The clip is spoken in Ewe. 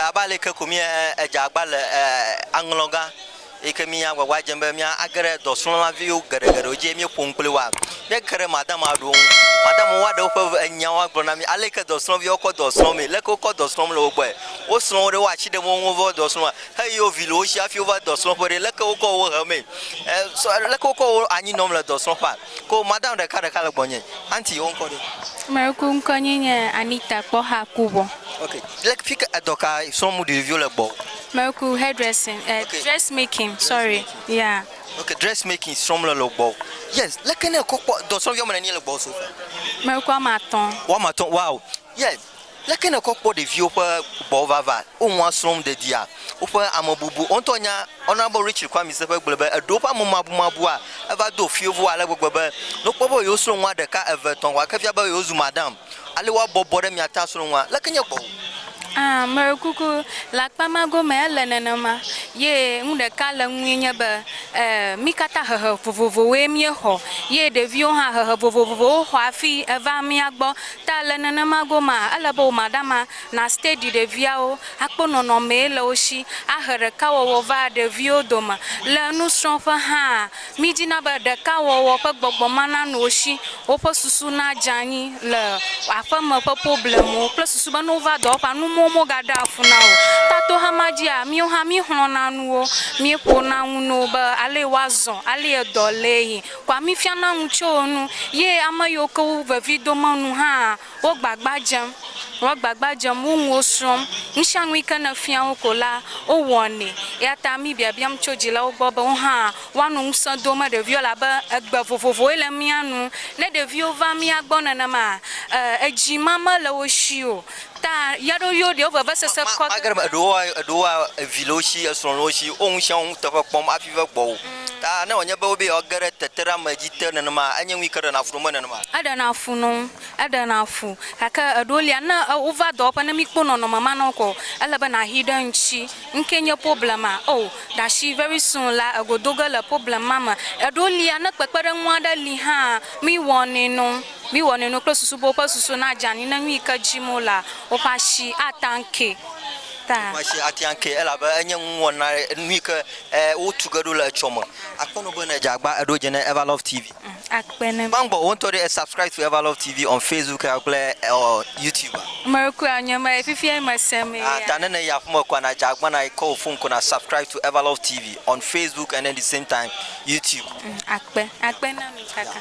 Abe aleke ko mía edze agba le aŋlɔ gã yi ke mía agbagba dzem be mía age ɖe dɔsrɔ̃la viwo geɖe geɖewo dzi eye mía ƒo nu kpli woa? Mía ke ɖe madama ɖewo ŋu. Madama woa ɖe woƒe nyawoa gblɔ na mí aleke dɔsrɔ̃ viwo kɔ dɔ srɔ̃ mee. Leke wokɔ dɔ srɔ̃m le wo gbɔe. Wo srɔ̃ wo ɖe woa asi ɖem wo ŋu va dɔ srɔ̃a? Heyi wo vi le wo si hafi wova dɔ srɔ̃ƒe ɖe leke wokɔ wo he mee? E, sɔ, leke wokɔ wo anyi nɔm le dɔ srɔ̃ƒea? Ko madam ɖeka ɖeka le gbɔnye. Aunty wo ŋkɔ ɖe? Ame yi ke ŋkɔ nye nye Anita Kpɔxa Kubɔ. Ok. Le fike edɔ ka srɔ̃m ɖeviwo le gbɔwò? Me ku hair dressing eh Ok. dress making sorry Dressmaking. ya. Ok dress making srɔ̃m le le gbɔwò. Yes leke ne ekɔ kpɔ dɔ srɔ̃viawo me nenie le gbɔwò so far? Me ku ame atɔ̃. Woame atɔ̃ wow. Yes, leke nèkɔ kpɔ ɖeviwo ƒe gbɔvava? Wo nua srɔ̃m ɖeɖia? Woƒe amebubu? Wò ŋutɔ nya Honourable Richard Kwame Sefwe gblɔe be eɖewo ƒe amemabumabua eva do fewuwo ale gbegbe be ne wokpɔ be yewosrɔ̃ nua ɖeka, eve, etɔ̃ ko ake fia be yewozu madam ale woabɔbɔ ɖe mia ta asrɔ̃ nua. Leke nye gbɔwò? Aa, meɖe kuku, le akpa ma gome ele nenema. Ye nu ɖeka le eŋue nye be, e, mí katã hehe vovovowoe míexɔ. Ye ɖeviwo hã hehe vovovowo xɔ hafi eva mía gbɔ. Ta le nenema gomea, ele be wòmaɖama na stadi ɖeviawo akpɔ nɔnɔmee le wo shi, ahe ɖekawɔwɔ va ɖeviwo dome. Le nusrɔ̃ƒe hãa, mídina be ɖekawɔwɔ ƒe gbɔgbɔ mana nu wo shi, woƒe susu nadze anyi le aƒeme ƒe problemwo kple susu be ne wova dɔwɔƒea, nu mɔwo mogaɖea fu na o. Ta toxa ma dzia, míwo hã míexlɔ̃na nuwo, míeƒona ŋu no be alee woazɔ, alee dɔ lee yi, Kɔa mí fiana nu tso wo nu ye ame yiwo ke wo vevi do Mawu nu hã wo gbagba dzem. Wo gbagba dzem, wo nuwo srɔ̃m. Nusianu yi ke ne fia wo ko la, wo wɔnɛ. Eya ta mí biabiam tso dzilawo gbɔ be wo hã woa nɔ ŋusẽ dom ɖeviwo elabe egbe vovovowoe le mía nu. Ne ɖeviwo va mía gbɔ nenema, e, edzi mame le wo shi o. Ta ya ɖo yo ɖewo vevesese kɔ ge. Magere me eɖewoa, eɖewoa evi le wo shi, esrɔ̃ le wo shi, wo ŋu shia wo nuteƒe kpɔm hafi ve gbɔwò. Ta ne wònye be wobeye yewoage ɖe teteɖeame dzi te nenema, enye nu yi ke ɖena fu nome nenema. Eɖena fu nɔ ŋ, eɖena fu. Gake eɖewo lia, ne e wova dɔwɔƒe, ne míkpɔ nɔnɔme ma nɔ kɔ, ele be nàhi ɖe ŋtsi. Ŋkee nye problema. Oo, ɖashi very soon la, egodoge le problema me. Eɖewo lia, ne kpekpeɖeŋu aɖe li hã, míwɔnɛ nɔ ŋ. Miwɔ nuinu kple susu be woƒe susu nadze anyi ne nu yi ke dim wolea, woƒe asi ate ŋu akee. Ta. Woƒe asi ate ŋu akee, elabe enye nuwɔna, nu yi ke wotu ge ɖo le etsɔ me. Akpe nu be ne edze agba eɖo dze ne Evalove TV. Akpe nu. Gbãgbɔ wò ŋutɔ ɖi e subscribe to Evalove TV on Facebook kple YouTube. Mekpɔe wònye ema ye, fifiae mese mee ya. Ta ne nèyi aƒe me kɔa, nadze agba na yi kɔ wò fon ko na subscribe to Evalove TV on Facebook and then the same time YouTube. Akpe. Akpe na mi kaka.